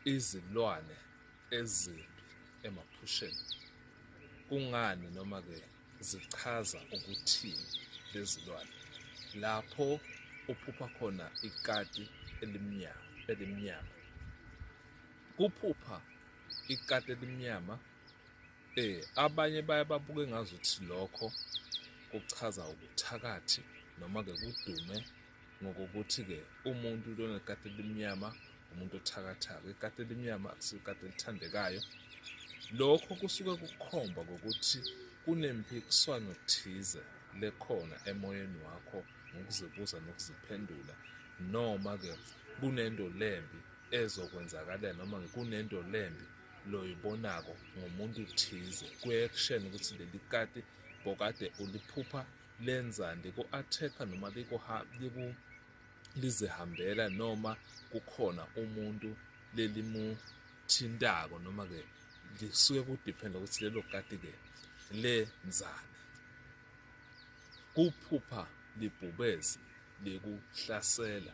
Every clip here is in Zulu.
izilwane ezimbi emaphusheni. Kungani noma-ke zichaza ukuthini lezilwane? Lapho uphupha khona ikati elimnyama elimnyama. Kuphupha ikati elimnyama eh abanye baye babuke ngazuthi lokho kuchaza ubuthakathi noma-ke kudume ngokokuthi-ke umuntu lona likati elimnyama umuntu othakathaka ikati elimnyama akusikati elithandekayo lokho kusuke kukhomba ngokuthi kunempikiswano thize lekhona emoyeni wakho ngokuzibuza nokuziphendula noma-ke kunento lembi ezokwenzakalela noma kunento lembi loyibonako ngomuntu thize kuye kushena ukuthi leli kati bokade uliphupha lenzani ku attack noma liku lizihambela noma kukhona umuntu lelimuthintako noma ke lisuke kudiphenda ukuthi lelo kati ke lenzani kuphupha libhubezi likuhlasela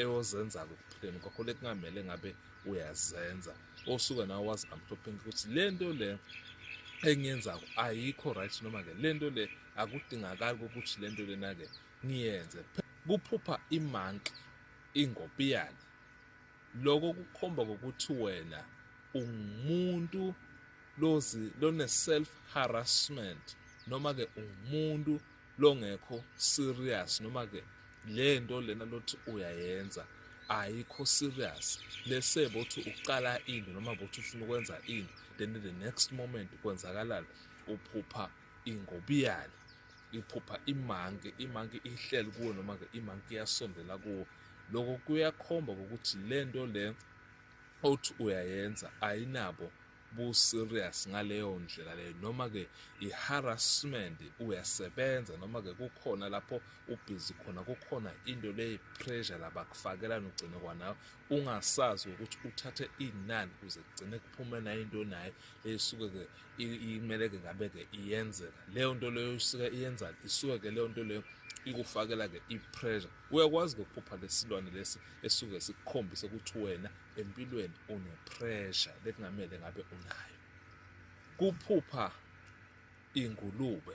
eyozenza-ke ekuphileni kwakho le kungamele ngabe uyazenza osuke nawe wazi amhlophenke ukuthi le nto le engiyenzayo ayikho right noma-ke le nto le akudingakali kokuthi le nto lena-ke ngiyenze kuphupha imanki ingopiyane lokho kukhomba kokuthi wena ungumuntu lozi lone self harassment noma ke ungumuntu longekho serious noma ke le nto lena lothi uyayenza ayikho serious lese bothi uqala ini noma bothi ufuna ukwenza ini then the next moment kwenzakalala uphupha ingobiyane iphupha imanke imanke ihleli kuwe noma ke imanke iyasondela kuwe lokho kuyakhomba ukuthi le nto le othi uyayenza ayinabo buserious ngaleyo ndlela leyo noma-ke i-harassment uyasebenza noma-ke kukhona lapho ubhizi khona kukhona into leyi-pressure labakufakelana ugcine kwanawe ungasazi ukuthi uthathe inani kuze kugcine kuphume nayo into nayo eyisuke-ke imele-ke ngabe-ke iyenzeka leyo nto leyo isuke iyenzani isuke-ke leyo nto leyo ikufakela-ke i-pressure Uyakwazi ngokuphupha lesilwane lesi esuke sikukhombise ukuthi wena empilweni unepressure lekungamele ngabe unayo. Kuphupha ingulube